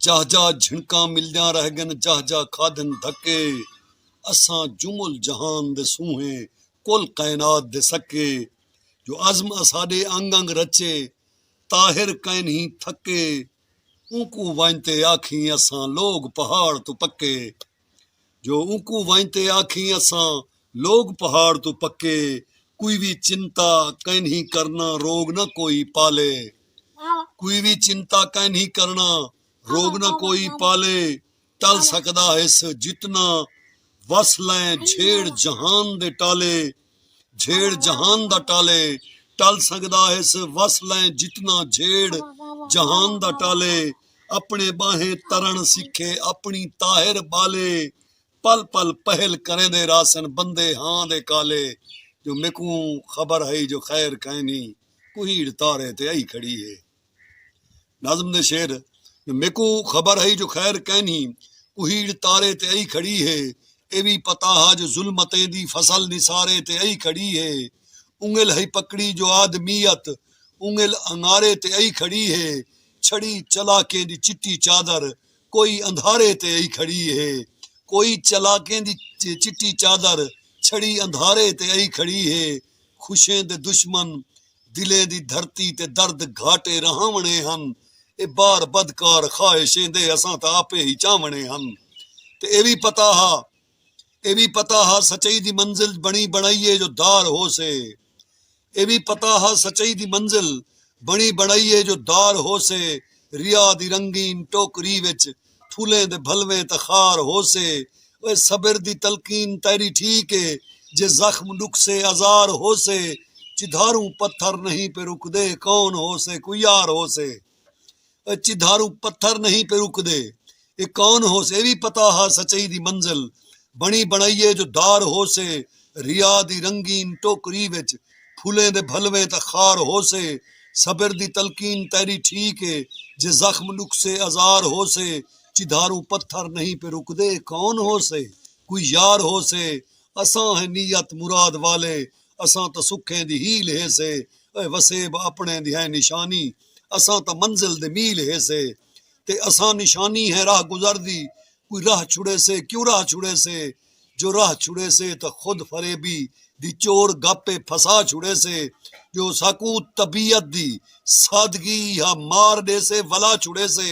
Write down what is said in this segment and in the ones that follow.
جاہ جاہ جھنکاں ملدیاں رہ گن جاہ جاہ کھادن دھکے اساں جمل جہان دے سونہے کل کائنات دے سکے جو عزم اساݙے انگ انگ رچے طاہر کائنہیں تھکے اونکوں ونڄ تے آکھیں اساں لوگ پہاڑ توں پکے جو اونکوں ونڄ تے آکھیں اساں لوگ پہاڑ توں پکے کوئی وی چنتا کائنہی کرنا روگ نہ کوئی پالے کوئی وی چنتا کائنہی کرنا روگ نہ کوئی پالے ٹل سکدا ہس جتنا وس لئیں جھیڑ جہان دے ٹالے جھیڑ جہان دا ٹالے ٹل سڳدا ہس وس لئیں جتنا جھیڑ جہان دا ٹالے اپݨے ٻانہے ترݨ سکھے اپݨی طاہر ٻالے پل پل پہل کریندے رہسن بندے ہاں دے کالے جو میکوں خبر ہئی جو خیر کائنی کوہیڑ تارے تے ائی کھڑی ہے۔ نظم دے شعر میکوں خبر ہئی جو خیر کینھی کوہیڑ تارے تے ائی کھڑی ہے اے وی پتہ ہا جو ظلمتیں دی فصل نثارے تے ائی کھڑی ہے اونگل ہئی پکڑی جو آدمیت اونگل انگارے تے ائی کھڑی ہے چھڑی چلاکیں دی چٹی چادر کوئی اندھارے تے ائی کھڑی ہے کوئی چلاکیں دی چٹی چادر چھڑی اندھارے تے ائی کھڑی ہے خوشیں دے دشمن دلیں دی دھرتی تے درد گھاٹے رہاوݨے ہن اے بار بدکار خواہش ایندے اساں تاں آپے ہی چاوݨے ہن تے اے وی پتہ ہا اے وی پتہ ہا سچائی دی منزل بݨی بݨائی اے جو دار ہوسے اے وی پتہ ہا سچائی دی منزل بݨی بݨائی اے جو دار ہوسے ریا دی رنگین ٹوکری وچ پھلیں دے بھلویں تاں خار ہوسے او صبر دی تلقین تیݙی ٹھیک اے جے زخم ݙکھسے آزار ہوسے چدھاروں پتھر نہیں پے رکدے کون ہوسے کوئی یار ہوسے او چدھاروں پتھر نہیں پے رکدے اے کون ہوسے اے وی پتہ ہا سچائی دی منزل بݨی بݨائی اے جو دار ہوسے ریا دی رنگین ٹوکری وچ پھلیں دے بھلویں تاں خار ہوسے صبر دی تلقین تیݙی ٹھیک اے جے زخم ݙکھسے ازار ہوسے چدھاروں پتھر نہیں پے رکدے کون ہوسے کوئی یار ہوسے اساں ہیں نیت مراد والے اساں تاں سکھیں دی ہیل ہیسے اے وسیب اپݨیں دی ہیں نشانی اساں تاں منزل دے میل ہیسے تے اساں نشانی ہیں راہ گزر دی کوئی راہ چھڑیسے کیوں راہ چھڑیسے جو راہ چھڑیسے تاں خود فریبی دی چور گپ ء پھسا چھڑیسے جو ساکوں طبیعت دی سادگی ہا مار ݙیسے ولا چھڑیسے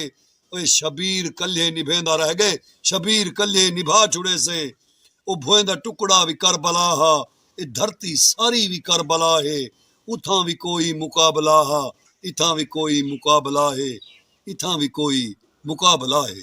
او شبیر کلھے نبھیندا رہ ڳئے شبیر کلھے نبھا چھڑیسے او بھوئیں دا ٹکڑا وی کربلا ہا اے دھرتی ساری وی کربلا ہے اتھاں وی کوئی مقابلہ ہا اتھاں وی کوئی مقابلہ ہے اتھاں وی کوئی مقابلہ ہے۔